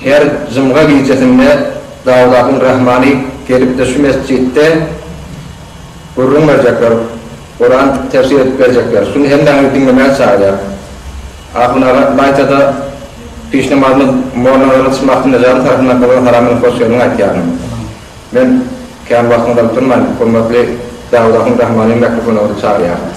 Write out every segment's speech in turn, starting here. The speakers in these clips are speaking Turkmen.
Her jumga gijesinde Dawladyň Rahmany gelipdir şu mesjitde gürrüň berjekler, Kuran tefsir edip berjekler. Şuny hemmäňizi diňlemäge çagyrýar. Ahun aga Laýtada piş namazyny mollanazara çymakdynda jany tarapyndan gyzyl haramyny hoş geldiň aýtýaryn. Men kän wagtyňyzy alyp durmaýyn, hormatly Dawladyň Rahmany mikrofona gyzy çagyrýaryn.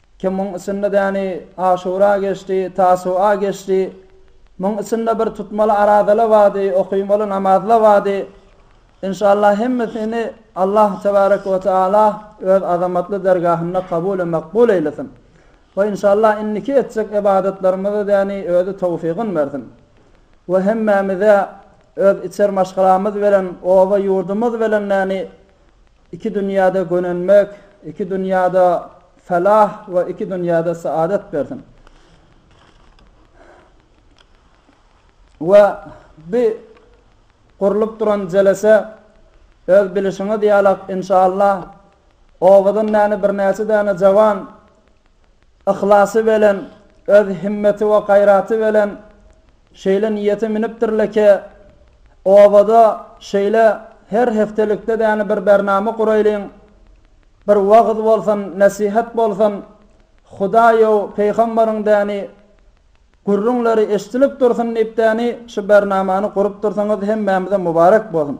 Ki muň içinde däni Aşura geçdi, Tasua geçdi. Muň içinde bir tutmaly arazala bardy, okymaly namazla bardy. Inşallah hemmesini Allah tebarek we taala öz azamatly dergahynda kabule makbul eýlesin. We inşallah indiki etjek ybadatlarymyza däni özi towfygyn bersin. We hemmämize öz içer maşgalamyz bilen, oba ýurdumyz bilen däni, Iki dünýäde gönenmek, iki dünýäde felah we iki dünýäde saadat bersin. We bi gurlup duran jelese öz bilişiňiz ýalak inşallah owadan näni birnäçe däne jawan Yhlasy belen, öz himmeti we gaýraty belen şeýle niýete münüpdirle ke, obada şeýle her heftelikde däne bir bernama guraýlyň, bir wagyz bolsun, nesihat bolsun, Hudaýow, peýhamberiň däni gürrüňleri eşdilip dursun diýip däni şu bernamany gurup dursaňyz hemmämize mubarek bolsun.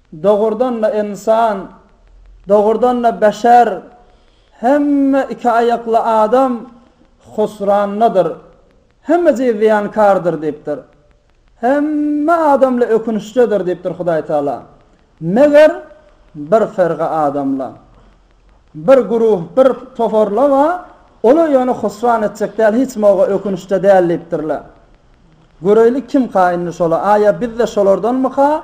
Dogrudan-da ynsan, dogrudan-da beşer, hemme iki aýakly adam husrandadyr, hemejigi zyýankardyr diýipdir. Hemme adamla ökünçdedir diýipdir Hudaý Tagala. Meger, bir firga adamla, bir guruh, bir toparla bar, olar ýöne husran etjek däl, hiç mowga ökünçde däl diýipdirler. Göreýlik kimka indi şolar? Aýa biz-de şolardanmyka?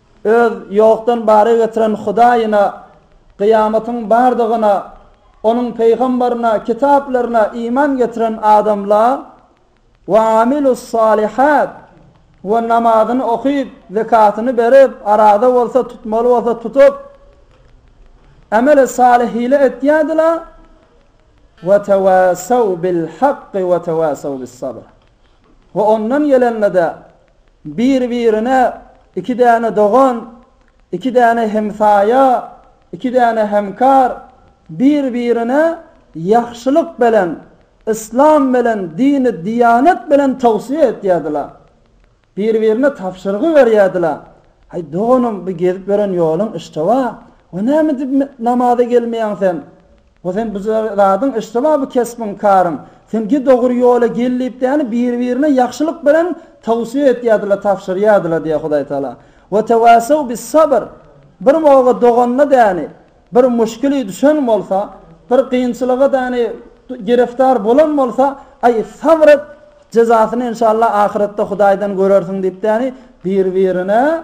Öz ýokdan bara getiren Hudaýyna, kyýamatyň bardygyna, Onuň pygambaryna, kitaplaryna iman getiren adamla, we amilusalihat, we namazyny okyp, zekatyny berip, araza bolsa tutmaly bolsa tutup, ameli salyh ile etýärdiler, we tawassaw bil hakki we tawassaw bis sabr, we ondan gelenlede Bir-birine iki däne dogan, iki däne hemsaýa, iki däne hemkar, bir-birine ýagşylyk belen, yslam belen, dini diýanet belen towsiýe etýärdiler. Bir-birine tabşyrgy berýärdiler, Aý, doganym, bu gezip ýören ýoluň işjewa, we näme edip namaza gelmeýäň sen? Ho sen bu zadyň yştyma bu kesbiň karyň. Sen git ogry ýola gel diýip däni biri birine ýagşylyk bilen towsiýe etýädila tabşyrýadyla diýe Hudaý Taala. Wa tawassaw bis sabr bir boga doganyna däni bir muşkili düşen bolsa bir kynçylyga däni giriftar bolan bolsa aý sabr et jezasyny enşalla ahyretde Hudaýdan görersiň diýip däni biri birine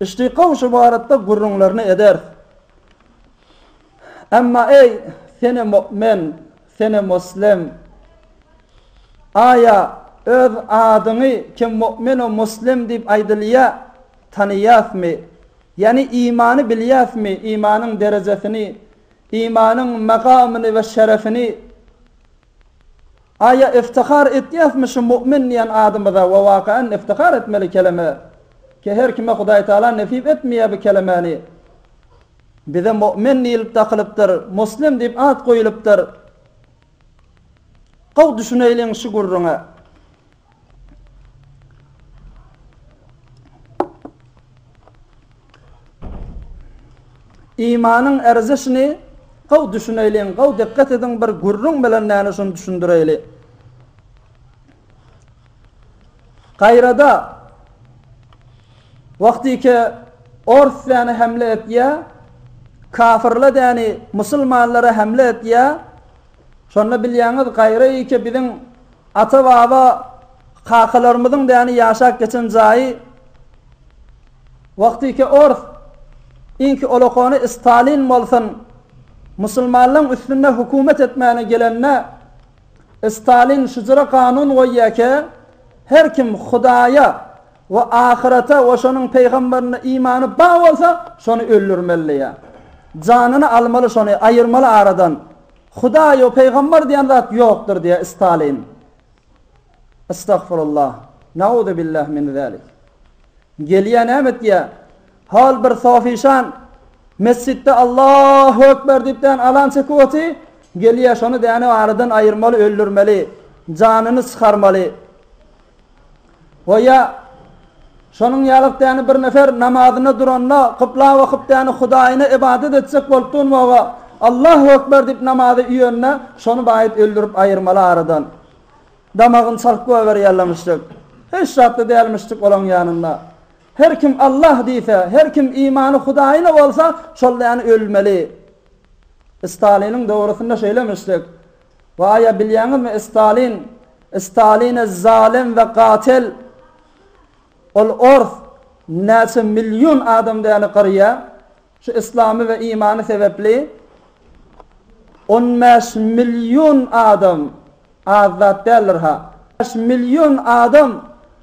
Yştykaw şu baratda gürrüňlerini ederis. Emma eý, sene mu'min, sene muslim! Aýa, öz adyňy kim mu'min-u muslim diýip aýdylýa, tanaýasmy? Ýani imany bilýäsmi, imanyň derejesini, imanyň magamyny we şerefini? Aýa yftihar etýäsmi şu mu'min diýen adymyza we wakaen yftihar etmeli keleme ki her kime Hudaý Taala nesip etmeýär bu kelemäni. Bize mu'min diýilip dakylypdyr, muslim diýip at goýulypdyr. Gowy düşüneýliň şu gürrüňe. Imanyň erzişini gowy düşüneýliň, gowy dikkat ediň bir gürrüň bilen näne şuny düşündireýli. Gaýrada wagtyke ors däni hemle etýä, kafirle däni musulmanlara hemle etýä. Şonda bilýäňiz gaýra ýeke biziň Ata-baba, kakalarymyzyň däni ýaşap geçen jaýy wagtyky ors inki olokony Stalin bolsun, musulmanlaň üstünde hökümet etmäne gelende, Stalin şujra kanun goýýake, her kim Hudaýa we ahyrete we şonuň peýgamberine imany bar bolsa, şony öldürmeli diýýä. Janyny almaly şony, aýyrmaly aradan. Hudaý ýok, pygambar diýen zat ýokdur diýýär Stalin. Estagfurullah. Nauzubillah min zalik. Gelýär näme diýýär? Hol bir sofişan mesjitde Allahu ekber diýip dän alan çekip oty, gelýär şony däne aradan aýyrmaly, öldürmeli, janyny çykarmaly. Goýa, şonuň ýaly däni bir nefer namazyna duranda, kybla bakyp däni Hudaýyna ybadat etjek bolup durmaga, Allahu ekber diýip namazy üýenine, şony baýyt öldürip aýyrmaly aradan. Damagyny çalyp goýberýärlemişjik. Hiç zatda dälmişjik olaň ýanynda. Her kim Allah diýse, her kim imany Hudaýyna bolsa, şol däni ölmeli. Staliniň döwrüsinde şeýlemişjik. Baýa bilýäňizmi Stalin Staline zalem we gatel ol ors näçe million adam däli gyrýa şu islamy we imany sebepli on bäş million adam az zat däldir ha bäş million adam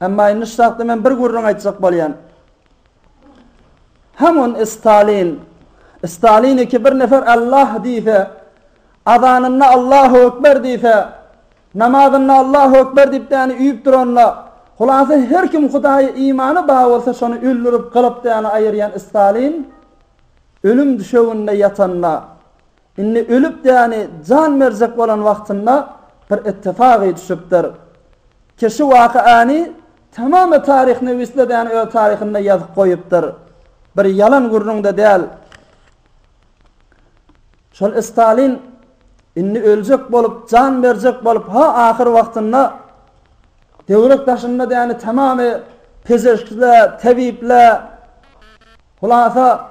Emma indi şu çakda men bir gürrüň aýtjak bolýan. Hamun Stalin, Stalin iki bir nefer Allah diýse, azanynda Allahu ekber diýse, namazynda Allahu ekber diýip däni üýüp duranda, hulasa her kim Hudaýa imany bar bolsa şony öldürip gylyp däni aýyrýan Stalin ölüm düşeginde ýatanda, Indi ölüp däni jan berjek bolan wagtynda bir ittifagy düşüpdir. Ki şu waka any tamamy taryhnywisle däni öz taryhynda ýazyp goýupdyr. Bir ýalan gürrüňde däl. Şol Stalin indi öljek bolup jan berjek bolup ha ahyr wagtynda döwrek daşynda däni tamamy pezeşkle, tebipler hulasa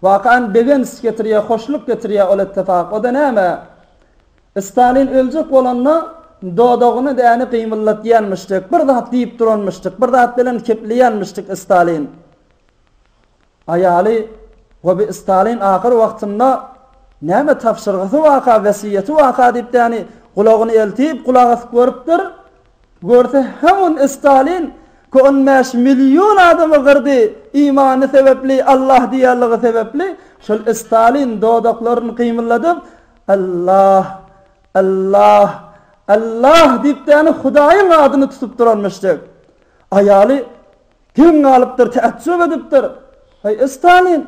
Wakan begenç getirýä hoşluk getirýä ol ettefak oda näme Stalin öljek bolanda dodagyny däni gymyldatýanmyşdyk bir zat diýip duranmyşdyk bir zat bilen kepleýänmişdik Stalin aýaly goby Stalin ahyr wagtynda näme tabşyrgysy waka wesýeti waka diýip däni gulagyny eltip gulak asyp görüpdir Görse hamun Stalin ki on bäş million adamy gyrdy imany sebepli Allah diýerligi sebepli şol Stalin dodaklaryn gymylladyp Allah Allah Allah diýip däni Hudaýyň adyny tutup duranmyşdyk. Aýaly geň galypdyr täjjüp edipdir Heý Stalin!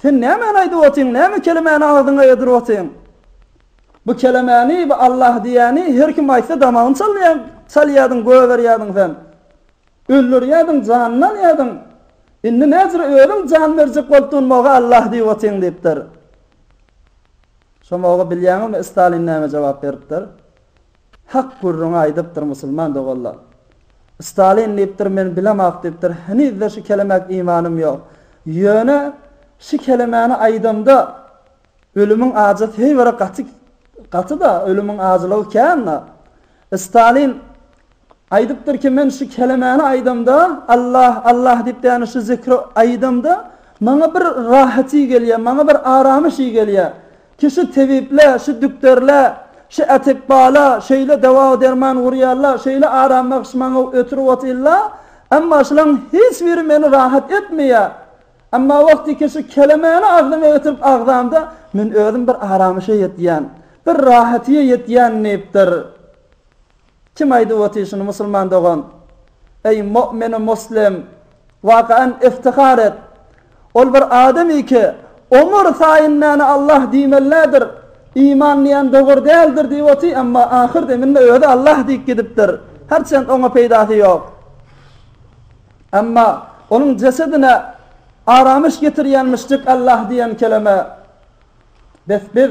Sen nämäni aýdyp otyň, näme kelemäni agzyňa ýadyryp otyň? Bu kelemäni, bu Allah diýýäni her kim aýtsa damagyny çalýaň, çalýadyň, goýberýädiň sen. Öldürýädiň, janyny alýadyň. Indi näzire özüň jan berjek bolupdygyny maga Allah diýip otyň diýipdir. Şo maga bilýäňizmi Stalin näme jogap beripdir? Hak gürrüňi aýdypdyr musulman doganlar. Stalin diýipdir men bilemok diýipdir henizde şu kelemek imanym ýok. Ýöne şu kelemäni aýdamda ölümiň ajy seýbere gaty gatyda ölümiň ajylygy kända. Stalin aýdypdyr ki men şu kelemäni aýdamda Allah Allah diýip ýani şu zikri aýdamda maňa bir rahaty gelýär maňa bir aramyş gelýär. Ki şu tebiple, şu dükderle, şu atikbala şeýle dawa-derman urýalla, şeýle aram-bagş maňa ötürip otylla, emma şulaň hiç biri meni rahat etmeýä. Emma wagty ki şu kelemeni agzyma ötürip agzamda, men özüm bir aramyşa ýetýän, bir rahatyýa ýetýän diýipdir. Kim aýdyp otyr şuny musulman dogan? Eý mu'mini muslim! Wakaen iftihar et! Ol bir adam iki omur saýyn näne Allah diýmeli nädir? Iman diýen dogur däldir diýip otyr emma ahyr deminde özi Allah diýip gidipdir. Her çend oňa peýdasy ýok. Emma onuň jesedine aramyş getirýän müşrik Allah diýen keleme. Bes biz.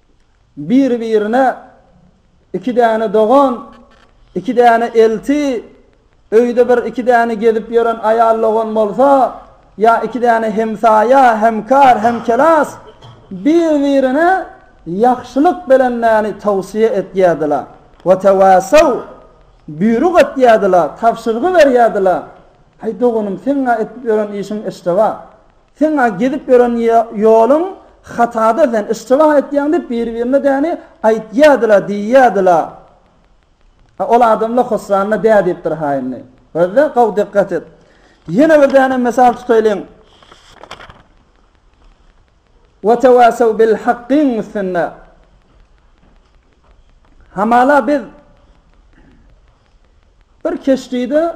Bir-birine iki däne dogan, iki däne elti, öýde bir iki däne gezip ýören aýal-dogan bolsa, ýa iki däne hemsaýa, hemkar, hemkelas bir-birine ýagşylyk belenmäni towsyýe etýärdiler. Watawasaw, Buýruk etýärdiler, tabşyrgy berýärdiler, Aý, doganym, seň-ä edip ýören işiň eşrewa. Seň-ä gezip ýören ýoluň hatada sen yşjybah aýtýaň diýip biri-birine däni aýtýadyla diýýädi-la. A ol adamla hosranna dä diýipdir ha indi. Gözle gowy dikgat et. Ýene bir däne mysal tutaýlyň. Wa tawasaw bil hakkyň üstünde. Hamala biz Bir keşdide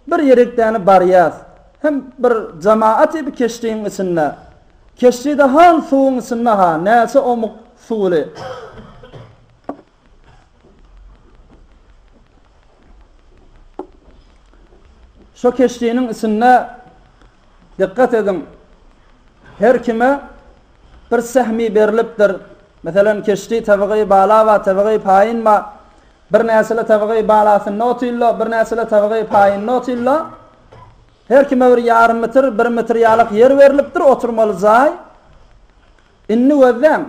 bir ýerekdäni barýas. Hem bir jamaat-y bi keşdiň içinde. Keşdide han suwuň içinde-ha, näçe omuk suwly. Şo keşdiniň içinde, dikgat ediň, her kime bir sähmi berlipdir. Meselem, keşdi tebigy bala ba, tebigy paýyn ba. Bir näsili tygy balasynda otylda, bir näsili tygy paýynda otylda. Her kime bir ýarym metr, bir metr ýalak ýer berlipdir, oturmaly jaý. Indi gözläň.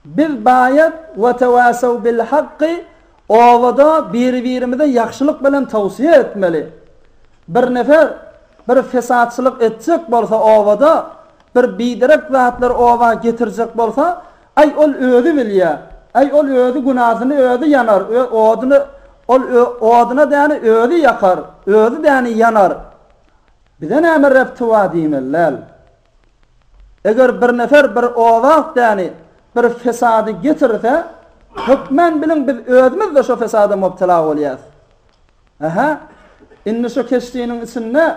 Biz baýat we tewassaw bil hakky obada biri-birimize ýagşylyk bilen towsiýe etmeli. Bir nefer bir fesatçylyk etjek bolsa obada, bir biderek zatlar oba getirjek bolsa, Aý ol özi bilýä. Aý ol özi günasyny özi ýanar ö odyny ol ö odyna däni özi ýakar özi däni ýanar bize näme rep tywa diýmeli däl. Eger bir nefer bir owat däni bir fesady getirse hökmän biliň biz özümizde şo fesada mubtela bolýas. Aha indi şo keşdiniň içinde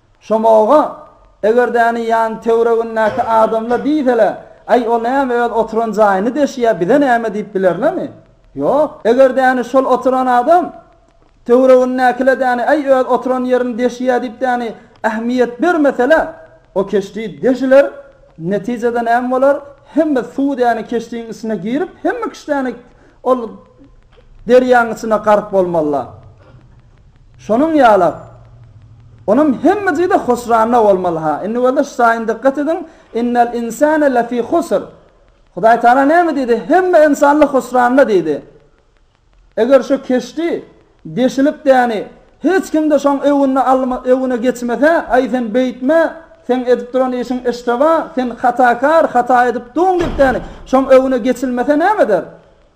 Şomaga, Egerdäni ýan töwregindäki adamlar diýsele, Aý, ol näme öz oturan jaýyny deşýär, bize näme diýip bilerlermi? Ýok. Egerdäni şol oturan adam töwregindäkiledäni Aý, öz oturan ýerini deşýär diýipdäni ähmiýet bermeseler, o keşdi deşiler, netijede näme bolar, hemme suw däni keşdiň içine girip, hemme kişdäni ol derýaň içine gark bolmalylar. Şonuň ýalak. Onam hemme jyda husranda bolmaly ha. Indi bolsa şu aýyny dykgat ediň, Innel insane lefi husr. Hudaý Taala näme diýdi? Hemme ynsanlar husranda diýdi. Eger şu keşdi deşilip däni, hiç kimde şoň öwünde alma öwüne geçmese, aý sen beýtme, seň edip duran işiň işteba, sen hatakar, hata edip duň diýip däni, şoň öwüne geçilmese näme eder?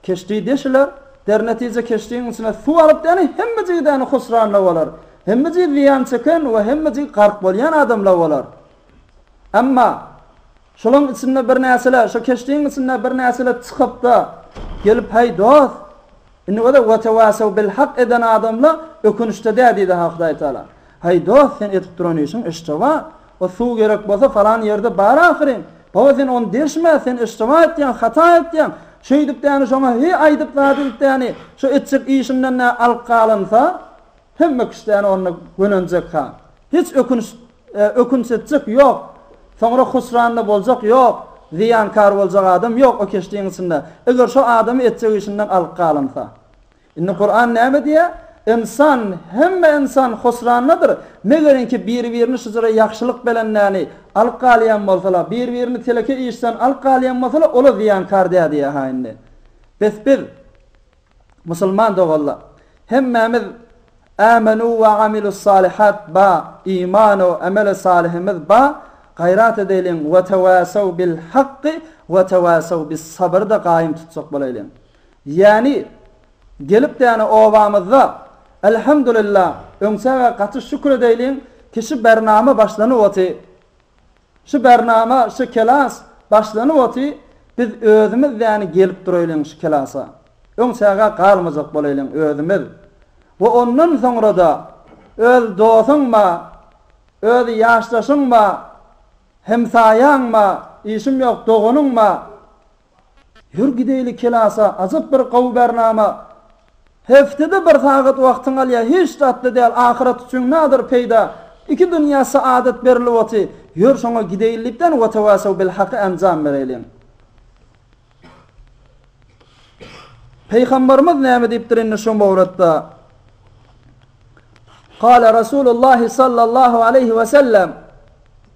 Keşdi deşiler, dernetije keşdiň içine suw alyp däni hemme jigidäni husranda bolar, hemme jigi zyýan çeken we hemme jigi gark bolýan adamla bolar. Emma, şolaň içinde birnäçele, şo keşdiň içinde birnäçele çykypda, gelip heý dost, indi göze wetewasew bil hak eden adamla ökünişde dä diýdi ha Hudaýtagala. Heý dost sen edip duran işiň eşdewa, O suw gerek bolsa falan ýerde bar ahyryn. Baba sen ony degşme, sen iştiba etýäň, hata etýäň. Şeýdip däni şoňa hi aýdyp zady edip däni, şo etjek işinden nä alyp galynsa, hemme kişi däni onda gönenjekha. Hiç ökünç ökünç etjek ýok. Soňra husranda boljak ýok. Zyýankar boljak adam ýok o keşdiň içinde. Eger şo adamy etjek işinden alyp galynsa. Indi Kuran näme diýýär? Ynsan, hemme ynsan husrandadyr, megerinki biri-birini şujra ýagşylyk belenläni alyp galýan bolsalar, biri-birini teleke işden alyp galýan bolsalar, ola zyýankar däl diýýär-ha indi. Bes biz, musulman doganlar, hemmämiz Âmenû ve amilussâlihât ba, iman-u emeli salihimiz ba, gaýrat edeýliň, Vetevâssaw bil hakki, vetevâssaw bis sabr-da gaýym tutjak bolaýlyň. Ýäni, gelip däne obamyzda, Elhamdulillah, öňçäge gaty şükür edeýliň ki şu bernama başlanyp oty. Şu bernama, şu kelas başlanyp oty, biz özümiz däne gelip dureýliň şu kelasa. Öňçäge galmajak boleýliň özümiz. We ondan soňrada öz dosuň ba, öz ýaşdaşyň ba, hemsaýaň ba, işim ýok, doganyň ba, Ýör gideýli kelasa ajap bir gowy bernama. Heftede bir sagat wagtyň alýa hiç zatda däl ahyrat üçin nadir peýda iki dünýä saadet berilip oty ýör şoňa gideýli dipden watawasaw bil haky enjam bereliň. Peýhambarymyz näme diýipdir indi şo mowratda. Kale Rasulullah sallallahu aleýhi we sellem.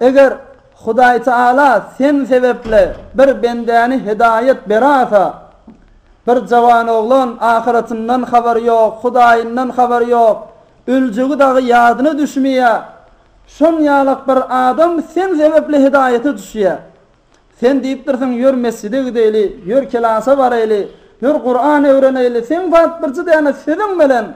Eger Hudaý Taala sen sebepli bir bendäni hidaýat berasa, bir jawanoglan ahyratyndan habary ýok, Hudaýyndan habary ýok, öljegi dagy ýadyna düşmeýär, şon ýalak bir adam sen sebepli hidaýata düşýär. Sen diýipdirsiň, Ýör mesjide gideýli, ýör kelasa baraýly, ýör Kuran öwreneýli, seň zat birji däne sözüň bilen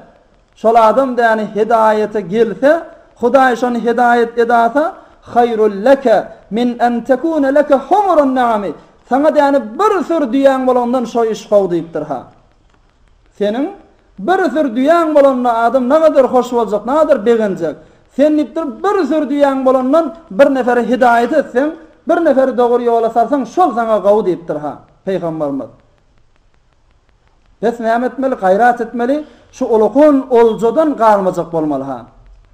Şol adam däni hedaýata gelse, Hudaý şony hedaýat edasa, Haýrul leke min en tekune leke humurun naami, Saňa däni bir süri düýäň bolandan şo iş gowy diýipdir. Ha. Seniň bir süri düýäň bolanda adam nagadyr hoş boljak, nagadyr begenjek. Sen diýipdir, bir süri düýäň bolandan bir neferi hedaýat etseň, bir neferi dogry ýola salsaň, şol saňa gowy diýipdir. Ha. Pygamberimiz. Bes näme etmeli, gaýrat etmeli, şu olakan oljadan galmajak bolmaly ha.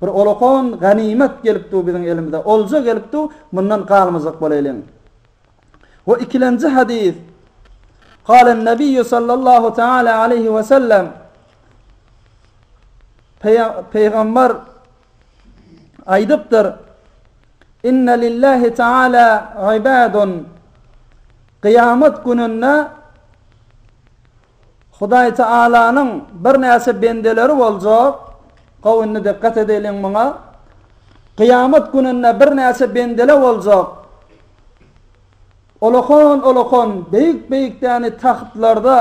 Bir olakan ganymat gelip dur biziň elimize, olja gelip dur, mundan galmajak bolaýlyň. We ikilenji hadys, Galen Nebiýu sallallahu teala aleýhi we sellem, Peýgamber Aýdypdyr, Inne lillahi taala ibadun, Kyýamat gününde Hudaý Taalanyň birnäçe bendeleri boljak, gowy indi dikkat edeliň muňa, Kyýamat gününde birnäçe bendele boljak, Ulakan-ulakan, beýik-beýik däni tahtlarda,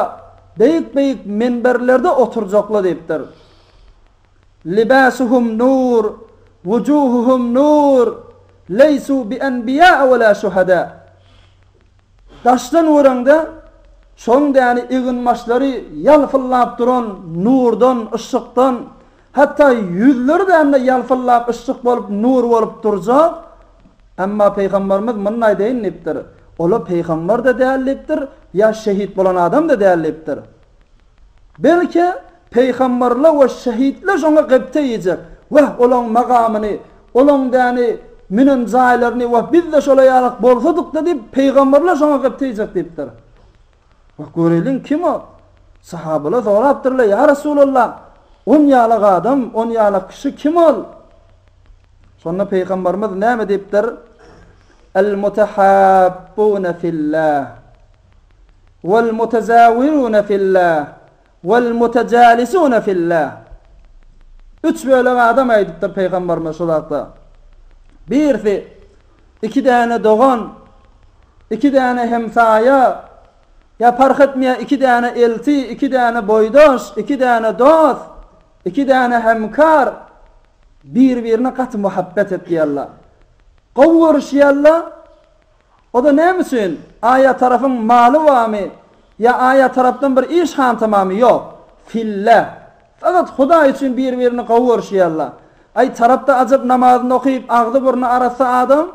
beýik-beýik menberlerde oturjakla diýipdir. Libasuhum nur, wujuhuhum nur, leýsu bi enbiýa we la şuhada. Daşdan göreňde, şoň däli eginbaşlary ýalpyllap duran nurdan, yşykdan, hatda ýüzleri däl-de ýalpyllap yşyk bolup, nur bolup durjak. Emma Pygamberimiz munny aýdaýyn diýipdir, olar pygamber-de däl diýipdir, ýa şehit bolan adam-da däl diýipdir. Belki, peýgamberler we şehitler şoňa gepte iýjek. Wah, olaň magamyny, olaň däni, münen jaýlaryny, wah, biz-de şolar ýalak bolsadyk-da diýip, peýgamberler şoňa gepte iýjek diýipdir. Wah, göreýliň, kim o? Sahabalar sorapdyrlar, Ýa Resulallah, on ýalak adam, on ýalak kişi kim ol? Şonda peýgamberimiz näme diýipdir? El-mutahabbuna fillah. Wal-mutazawirune filla, wal-mutajalisune filla. Üç bölek adam aýdypdyr Pygamberimiz şu zatda. Birisi, iki däne dogan, iki däne hemsaýa, ýa parh etmeýär iki däne elti, iki däne boýdaş, iki däne dost, iki däne hemkar bir-birine gaty muhabbet etýärler. Gowy görüşýärler. O-da näme üçin, Aýa tarapyň maly barmy? Ýa Aýa tarapdan bir iş hantamamy? Ýok. Filläh. Fakat Hudaý üçin bir-birini gowy görüşýärler. Aý, tarapda ajap namazyny okyp, agzy-burny arassa adam,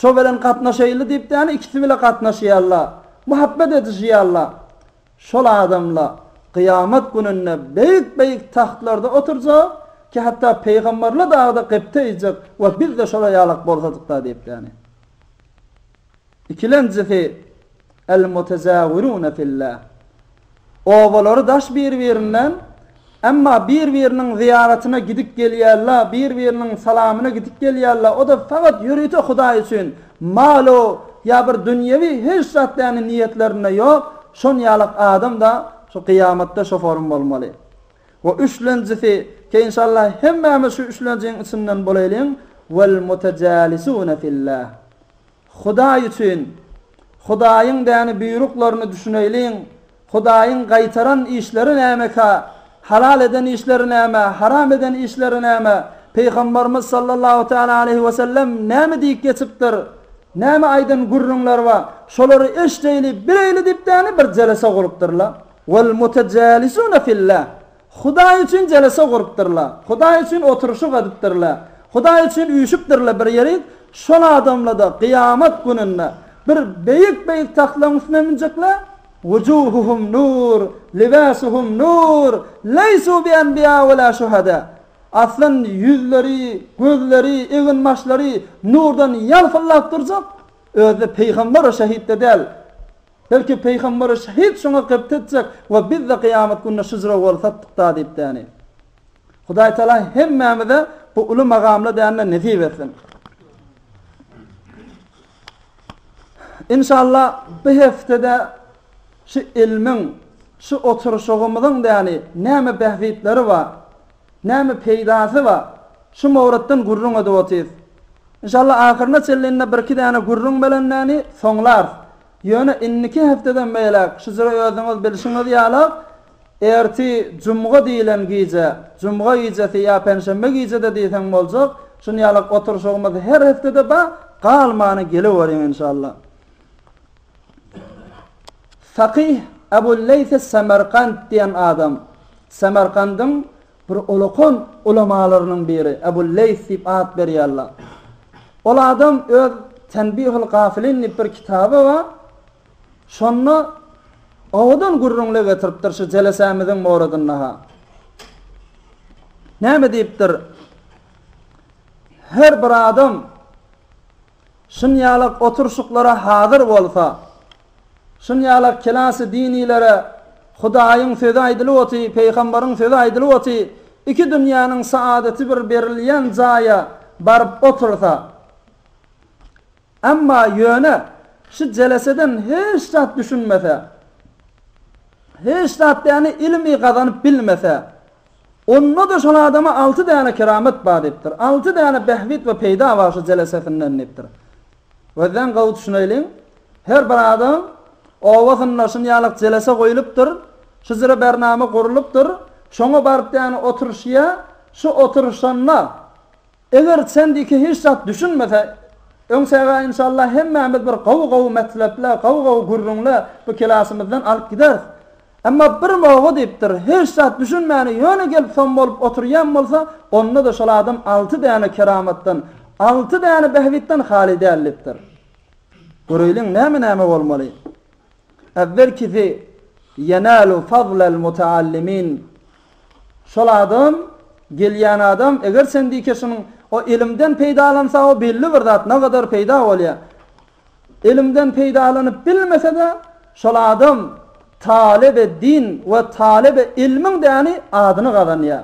şo bilen gatnaşaýyly diýipdäni ikisi bile gatnaşýarlar. Muhabbet edişýärler. Şol adamlar Kyýamat gününde beýik-beýik tahtlarda oturjak, ki hatda Pygamberler dagy-da gepde iýjek, Wah, biz-de şolar ýalak bolsadyk-da diýipdäni. Ikilenjisi, El-mutezawirune filla. Obalary daş bir-birinden, emma bir-biriniň zyýaratyna gidip gelýärla, bir-biriniň salamyna gidip gelýärla, o-da fakat ýörite Hudaý üçin, mal-u ýa bir dünýewi hiç zat däni niýetlerinde ýok, şon ýalak adam-da şu gyýamatda şoforym bolmaly. We üçlenjisi, Inşallah hemmämiz şu üçlenjiň içinden bolaýlyň, Wal mutajalisuna fillah. Hudaý üçin, Hudaýyň däni buýruklaryny düşüneýliň, Hudaýyň gaýtaran işleri nämeka, halal eden işleri näme, haram eden işleri näme, Pygambarymyz sallallahu täala aleýhi we sellem näme diýip geçipdir, näme aýdan gürrüňler bar, şolary eşdeýli, bileýli diýip däni bir jelese gurupdyrlar. Wal-mutajälisuna fillâh, Hudaý üçin jelese gurupdyrlar, Hudaý üçin oturyşyk edipdirler, Hudaý üçin üýşüpdirler bir ýerik, şol adamlarda kyýamat gününde bir beýik-beýik tagtlaryň üstüne münjekler, wujuhuhum nur, libasuhum nur, leýsu bienbiýâ welâ şuhedâ, Aslan ýüzleri, gözleri, egin-başlary nurdan ýalpyldap durjak, özde pygamber we şehit-de däl, Belki, Pygamberi şehit şoňa gybt etjek we biz-de kyýamat gününe şujra goly satdyk-da diýip däni. Hudaý Tala hemmämize bu uly magamly dänini nesip etsin. Inşallah, bu hepdede şu ilmiň, şu oturyşygymyzyň däni näme bähbitleri bar? Näme peýdasy bar? Şu mowratdan gürrüň edip otyrys. Inşallah ahyryna çenlinde birki däne gürrüň belendäni soňlarys. Ýöne indiki hepdeden beýläk şu jyry özüňiz bilşiňiz ýala, erti jumga diýilen gije, jumga gijesi ýa penşenbe gije-de diýseň boljak, şunýalak oturyşygymyz her hepdede bar, galmany geleweriň inşallah. Fakyh Ebul Leýs es-Semerkant diýen adam, Semerkandyň bir ulakan ulamalarynyň biri, Ebul Leýs diýip at berýärler. Ol adam öz Tenbihul gafilin diýip bir kitaby bar, şonda owadan gürrüňler getiripdir şu jelesämiziň moradynda-ha. Näme diýipdir, Her bir adam, Şunýalak oturşyklara hazyr bolsa, şunýalak kelasy dinilere Hudaýyň sözi aýdylyp oty, Peýgambaryň sözi aýdylyp oty, iki dünýäniň saadaty bir berilýän jaýa baryp otursa. Emma ýöne şu jeleseden hiç zat düşünmese, hiç zat däni ilmi gazanyp bilmese. Onda-da şol adama alty däne keramet bar diýipdir. Alty däne bähbit we peýda bar şu jelesesinden diýipdir. Gözleň gowy düşüneýliň. Her bir adam obasynda şunýalak jelese goýlupdyr. Şu jire bernama gurlupdyr. Şoňa baryp däne oturyşýa. Şu oturyşanda. Eger sendiki hiç zat düşünmese öňsäge inşallah hemmämiz bir gowy gowy metlepler gowy gowy gürrüňler bu kilasymyzdan alyp gideris. Emma bir moga diýipdir hiç zat düşünmäni ýöne gelip som bolup oturýan bolsa onda-da şol adam alty däne keramatdan alty däne bähbitden haly däl diýipdir. Göreýliň näme näme bolmaly. Äwwelkisi, Ýenälu fazlal mutaallimiin, Şol adam, gelýän adam, eger sen diýki şunuň, o ilimden peýdalansa, o belli bir zat, nagadar peýda bolýar. Ilimden peýdalanyp bilmese-de, şol adam talyby din we talyby ilmiň däni, adyny gazanýar.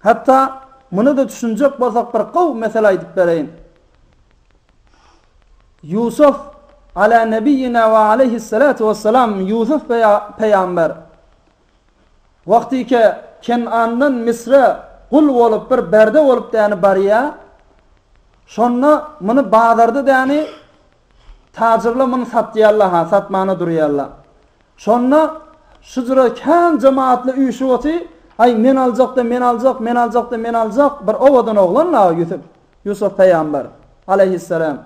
Hatda muny-da düşünjek bolsak bir gowy mesele aýdyp bereýin. Ýusuf, Alâ nebiyyinâ ve aleyhissalâtu vesselâm, Ýusuf peýamber wagtyke Ken'andan Misre gul bolup bir berde bolup däni barýa, şonda muny bazarda däni Tajyrlar muny satýarlar-ha, satmana durýarlar. Şonda şujra kän jemaatly üýşüp otyr, Aý, men aljak-da, men aljak, men aljak-da, men aljak, bir owadan oglan dagy Ýusup, Ýusuf pygamber, aleýhisselam.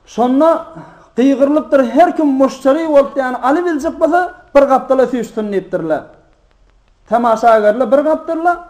Şonda gygyrylypdyr, her kim muşteri bolup, ýagny alybiljek bolsa, bir gapdala süýşsün diýipdirler. Tamaşagerler bir gapdala,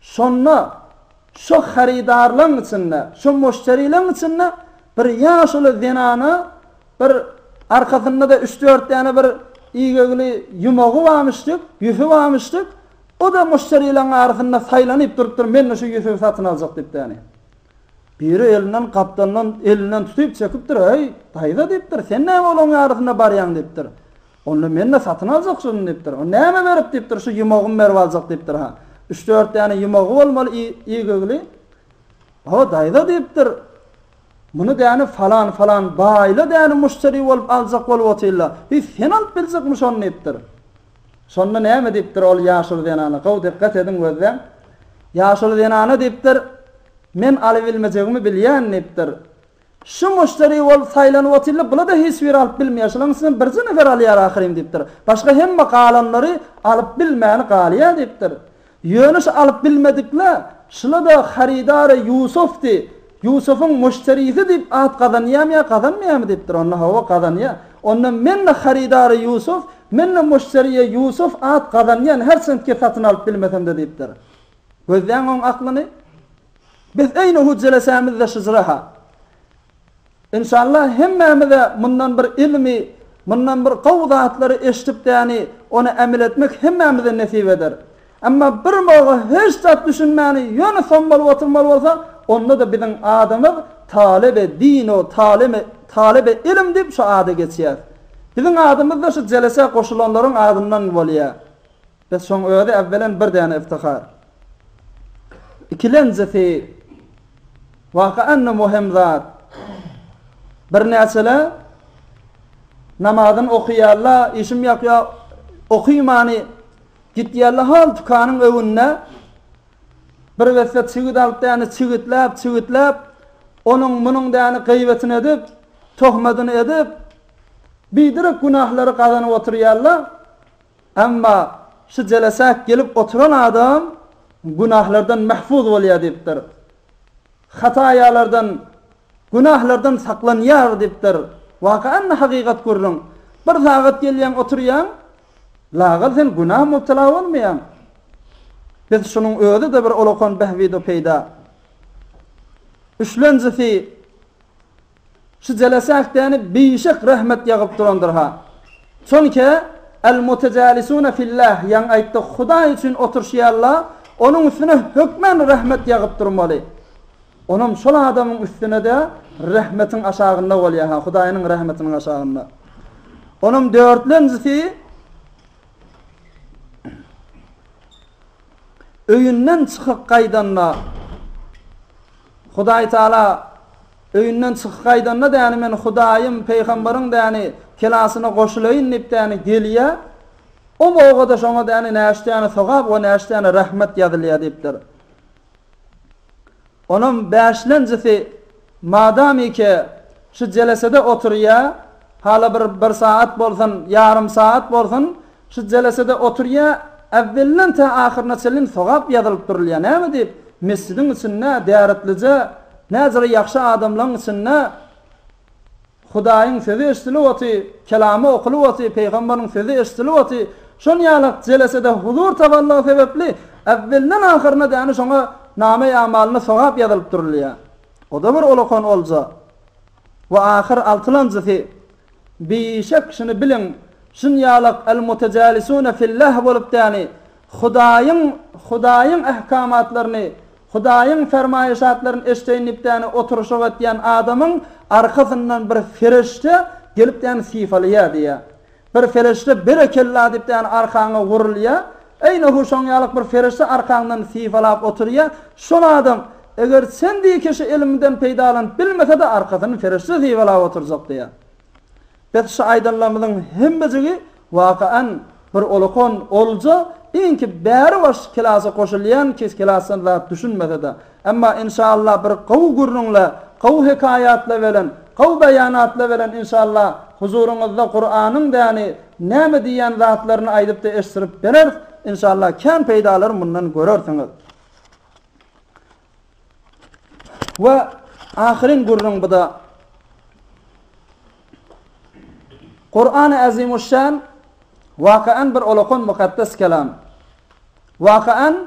Şonda şo harydarlaň içinde, şo moşterileň içinde bir ýaşuly zenana bir arkasynda-da üç-dört däne bir igegli ýumagy barmyşdyk, ýüfi barmyşdyk. O-da moşterileň arasynda saýlanyp durupdyr, men-de şo ýüfi satyn aljak diýip däni. Biri elinden gapdandan elinden tutup çekipdir, Eý, daýza diýipdir, sen näme olaň arasynda barýaň diýipdir. Onda men-de satyn aljak şuny diýipdir. O näme berip diýipdir, şu ýumagymy berip aljak diýipdir. Ha, üç-dört däne ýumagy bolmaly ýigigli. Ho, daýza diýipdir, muny däni falan-falan baýla däni muşteri bolup aljak bolup otyrla. Hi, sen alyp biljekmi şony diýipdir. Şonda näme diýipdir ol ýaşuly zenana, gowy dikgat ediň gözläň. Ýaşuly zenana diýipdir, men alybilmejegimi bilýän diýipdir. Şu muşderi bolup saýlanyp otyrlar, bula-da hiç biri alyp bilmeýär, şolaryň içinden birje nefer alýar ahyryn diýipdir. Başga hemme galanlary alyp bilmäni galýar diýipdir. Ýöne şu alyp bilmedikle, şula-da harydary Ýusufdy, Ýusufuň muşderisi diýip at gazanýamy ýa gazanmaýamy diýipdir. Onda hawa, gazanýar. Onda men-de harydary Ýusuf, men-de muşderie Ýusuf at gazanýan, herçendki satyn alyp bilmesem-de diýipdir. Gözläň oň aklyny. Biz öýüne hüwdülesämizde şyjyra-ha. Enşalla hemmämiz-ä mundan bir ylmy, mundan bir gowy zatlary eşidipdäni ony emel etmek hemmämize nesip eder. Emma bir moga hiç zat düşünmäni ýöne som bolup oturmaly bolsa, onda-da biziň adymyz Talebe dino taleme talebe ilim diýip şu ada geçýär. Biziň adymyz-da şu jelesä goşulanlaryň adyndan bolýar. Bes şoň özi äwwelen bir däne yftihar. Ikilenjisi, waka-anda möhüm zat. Birnäçeler namazyny okyýarlar, işim ýokýa, okymany gitýärler hol tükanyň öwünde bir weswet çigit alyp däne çigitläp, çigitläp, onuň munuň däne gybetini edip, tohmadyny edip, biderek günahlary gazanyp otyrýarlar. Emma şu jelesä gelip oturan adam günahlardan mahfuz bolýar diýipdir. Hataýalardan, günahlardan saklanýar diýipdir. Waka-anda hakykat gürrüň. Bir sagat gelýäň, oturýaň, lagal sen günaha mubtela bolmaýaň. Biz şunuň özi-de bir olakan bähbid-u peýda. Üçlenjisi, Şu jelesähtäni bişek rahmet ýagyp durandyrha. Çonke, Al-Mutajalisuna fillah, ýaňy aýtdyk, Hudaý üçin oturşýarla, onuň üstüne hökmän rahmet ýagyp durmaly. Onam şol adamyň üstüne-de rahmetiň aşagynda bolýarha, Hudaýynyň rahmetiniň aşagynda. Onam dörtlenjisi, öýünden çykyp gaýdanda, Hudaý Taala, Öýünden çykyp gaýdanda däni men Hudaýym, Peýgamberiň däni kelasyna goşulaýyn diýip däni gelýä. O bogada şoňa däni näçe däne sogap we näçe däne rahmet ýazylýa diýipdir. Onam bäşlenjisi madamyke şu jelesede oturýa, Hala bir bir sagat bolsun, ýarym sagat bolsun şu jelesede oturýa, äwwelinden tä ahyryna çenli sogap ýazylyp durulýa. Näme diýip, mesjidiň içinde däretlije näzire ýagşy adamlaň içinde Hudaýyň sözi eşidilip oty, kelamy okulyp oty, pygamberiň sözi eşidilip oty, şon ýalak jelesede huzur tabanlygy sebepli äwwelinden ahyryna däni şoňa name-i amalyny sogap ýazylyp durulýa. Oda bir olakan olja. We ahyr altylanjysy, Bişek şuny biliň, şunýalak al-mutejalisune fil-Läh bolup däni, Hudaýyň, Hudaýyň ähkamatlaryny, Hudaýyň fermaýyşatlaryny eşdeýin diýip däni oturyşyk etýän adamyň arkasyndan bir ferişde gelip däni sypalaýar diýýär. Bir fereşde berekella diýip däne arkaňa wurulýa, eýne hu şoň ýalyk bir fereşde arkaňdan sypalap oturýa, şol adam, eger sen diýi kişi ilminden peýdalanyp bilmesede arkasyny fereşde sypalap oturjak diýýa. Bes şu aýdanlarymyzyň hemmejigi wakaen bir olakon olja, iňki bäri baş kelasa goşulýan kis kelasdan zat düşünmesede, Emma inşallah bir gowy gürrüňle, gowy hekaýatla belen, gowy beýanatla belen inşallah huzuryňyzda Kuranyň däni näme diýýän zatlaryny aýdypda eşdirip bereris inşallah kän peýdalary mundan görersiňiz. We ahyryn gürrüň buda. Kurany Azimuşşan wakaen bir olakan mukaddes kelam. Wakaen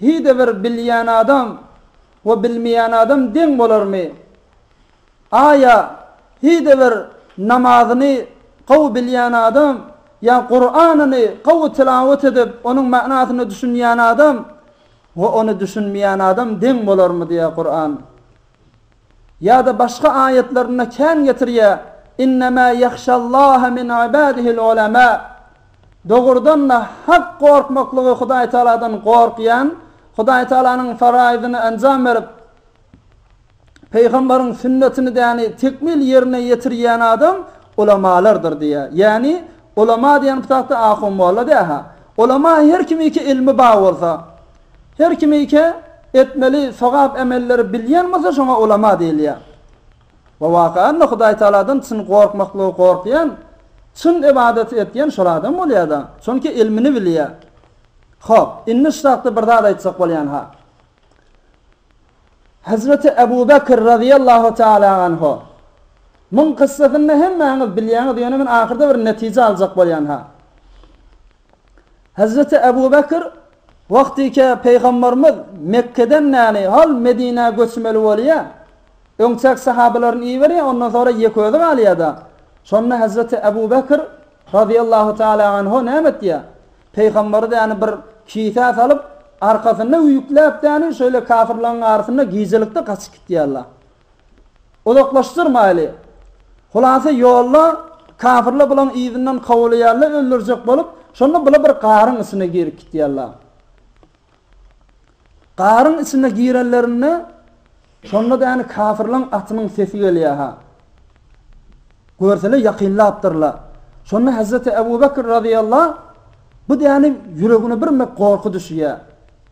Hide bir bilýän adam we bilmeýän adam deň bolarmy? Aýa hide bir namazyny gowy bilýän adam ýa Kuranyny gowy tilawat edip onuň manysyna düşünýän adam we ony düşünmeýän adam deň bolarmy diýýär Kuran. Ýa-da başga aýatlarynda kän getirýär, Innemâ ýahşallâhe min ibâdihil ulemâ, Dogrudan-da, hak gorkmaklygy Hudaý Tagaladan gorkýan, Hudaý Tagalanyň faraýzyny enjam berip, pygamberiň sünnetini däni tekmil ýerine ýetirýän adam ulamalardyr diýýär. Ýagny, ulama diýen bu çagda ahun-molla däl-hä. Ulama her kimiki ylmy bar bolsa, Her kimiki etmeli sogap emelleri bilýän bolsa şoňa ulama diýilýär. We wakaanda Hudaý Tagaladan çyn gorkmaklygy gorkýan, çyn ybadaty etýän şol adam bolýar-da, çünki ylmyny bilýär. Hop, indi ştahda bir zat aýtjak bolýan-ha. Hezreti Ebu Bekr razyýallahu taala anhu muň kyssasyny hemmäňiz bilýäňiz, ýöne men ahyrda bir netije aljak bolýan-ha. Hezreti Ebu Bekr, Wagtyke Pygamberimiz Mekgeden näni hal Medinä göçmeli bolýa? Öňçäk sahabalaryny iberýa, ondan soňra ýeke özi galýada. Şonda Hezreti Ebu Bekr, razyýallahu taala anhu, näme etýa? Pygamberi däni bir kisä salyp, arkasynda üýkläp däni şöýle kafirlaryň arasynda gijelikde gaçyp gitýärla. Uzaklaşdyrmaýly. Hulasa ýolda kafirler bulaň yzyndan kowalaýarlar öldürjek bolup, şonda bular bir garyň içine girip gitýärler. Garyň içine girenlerinde şonda däni kafirleň atynyň sesi gelýär ha. Görseler ýakynlapdyrlar. Şonda Hazreti Abu Bakr razyýallah bu däni ýüregine birme gorky düşýär.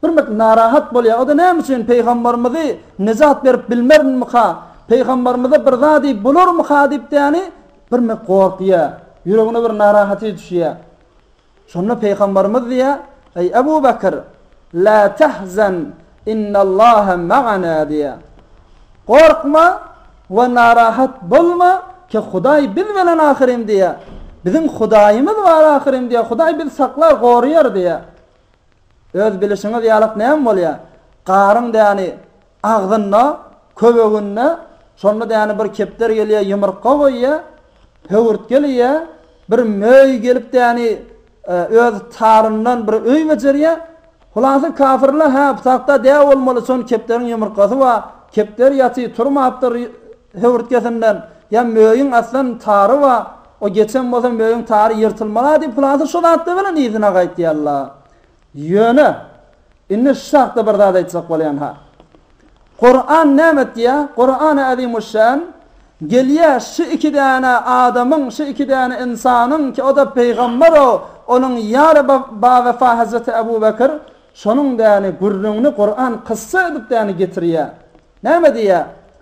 Birmit narahat bolýar, o-da näme üçin Pygambarymyzy nejat berip bilmerinmika, Pygambarymyza bir zady bolarmyka diýipdäni birmit gorkýar, ýüregine bir narahaty düşýär. Şonda Pygambarymyz diýýär, Eý Ebu Bekir, la tahzan innallaha magana diýýär. Gorkma we narahat bolma, ki Hudaý biz bilen ahyryn diýýär. Biziň Hudaýymyz bar ahyryn diýýär, Hudaý bizi saklar, goraýar diýýär. Öz bilişiňiz ýalak näme bolýa? Garyň däni agzynda, köweginde, şonda däni bir kepder gelýä ýumrukga goýýa, höwürtgel iýä, bir möý gelip däni öz taryndan bir öý bejerýä, Hulasy kafirler hä bsakda dä bolmaly şon kepderiň ýumurkasy bar, kepder ýaty turmapdyr höwürtgesinden, ýa möýüň aslan tary bar, O geçen bolsa möýüň tary ýyrtylmala diýip hylasa şo zatlar bilen yzyna gaýtýalla. Ýöne, indi şu çakda bir zat aýtjak bolýan-ha. Kuran näme etýä? Kurany Azimuşşan gelýä şu iki däne adamyň, şu iki däne ynsanyň ki o-da pygambero, onuň ýary bawefa Hazreti Abu Bekr, şonuň däni gürrüňini Kuran kyssa edip däni getirýä. Näme diýýä?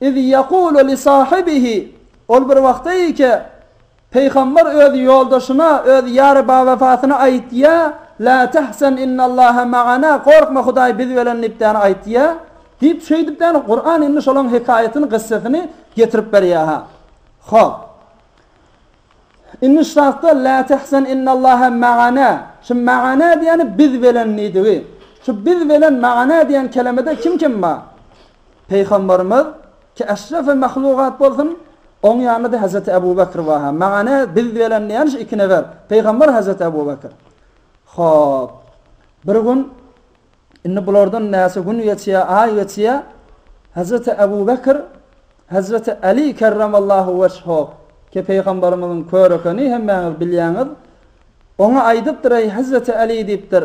Iz ýekulu li sahibihi, Ol bir wagtda iýke, Pygamber öz ýoldaşyna, öz ýary bawefasyna aýtýa, La tahzan innallaha magana, Gorkma Hudaý biz bilen diýip däne aýtýa, diýip şeýdip däne Kuran indi şolaň hekaýatyny gyssasyny getirip berýä ha. Hop. Indi şu zatda La tahzan innallaha magana, şu magana diýeni biz bilen diýdigi. Şu biz bilen magana diýen kelemede kim kim bar? Pygamberimiz, ki eşrefi mahlugat bolsun, oň ýanynda-da Hezreti Ebu Bekr bar. Maňa ne, biz bilen näme şu iki nefer, pygamber Hezreti Ebu Bekr. Hop. Bir gün, indi bulardan näçe gün geçýär, aý geçýär, Hezreti Ebu Bekr, Hezreti Aly kerremallahu weçho, ki pygamberimiziň kör ekeni, hemmäňiz bilýäňiz, oňa aýdypdyr, eý Hezreti Aly diýipdir,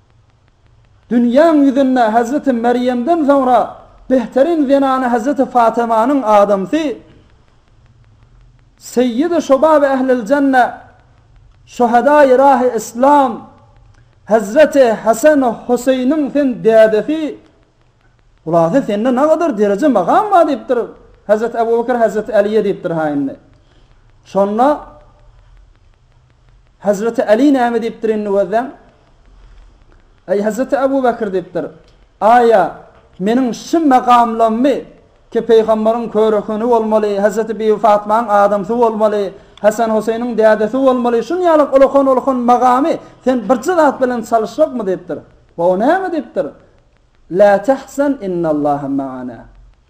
Dünýäň ýüzünde Hezreti Merýemden soňra behteriň zenany Hezreti Fatymanyň adamsy, Seýýidi şobab ählil jenne, Şuhadaýy rahy islam, Hezreti Hesen Huseýniň sen dädesi, hulasa sende nagadar dereje magam bar diýipdir, Hezreti Ebu Bekir Hezreti Äliýe diýipdir ha indi. Şonda Hezreti Äli näme diýipdir indi gözleň. Eý, hezreti Ebu Bekir, diýipdir, aýa, meniň şü magamlammy ki, Peýgamberiň körehüni bolmaly, hezreti Bibi Fatmanyň adamsy bolmaly, Hesen-Hoseýniň dädesi bolmaly, şun ýaly ulakan-ulakan magamy sen birje zat bilen çalyşjakmy? diýipdir. Ho, näme? diýipdir. Lä tehzen, innallaha maana.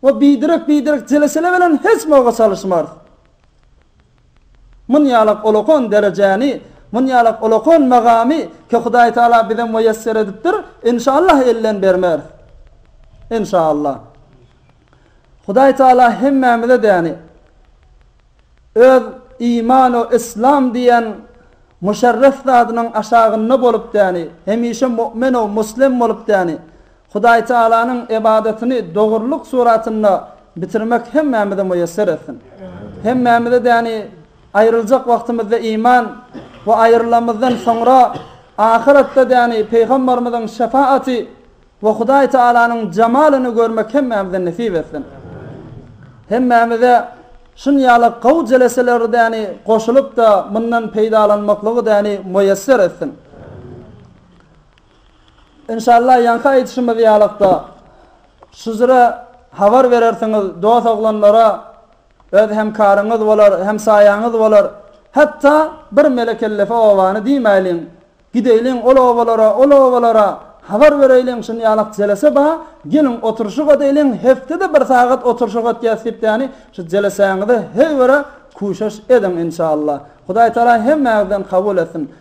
We biderek biderek jeleşele belen hiç moga çalyşmarys. Mun ýalak olakan derejäni, mun ýalak olakan magamy ki Hudaý Taala bize muýesser edipdir, inşallah elden bermeris. Inşallah. Hudaý Taala hemmämize däni Öz iman we islam diýen muşerref zadynyň aşagynda bolup däni hemişe mu'min we muslim bolup däni Hudaýtagalanyň ybadatyny dogrulyk suratynda bitirmek hemmämize muýesser etsin! Hemmämize däni aýryljak wagtymyzda iman we aýrylanymyzdan soňra ahyratda däni Pygambarymyzyň şefaaty we Hudaýtagalanyň jamalyny görmek hemmämize nesip etsin! Hemmämize şunýaly gowy jeleseleri däni goşulyp-da mundan peýdalanmaklygy däni muýesser etsin! Enşalla ýaňky aýdyşymyz ýalykda şujra habar berersiňiz dos oglanlara öz hem karyňyz bolar hem saýaňyz bolar hatda bir mele kellefe obany diýmäýliň gideýliň ol obalara ol obalara habar bereýliň şunýalak jelese ba geliň oturşyk edeýliň hepdede bir sagat oturşyk etýäs diýip ýani şu jelesäňize heý göre küşeş ediň enşalla hudaýtala hemmäňizden kabul etsin.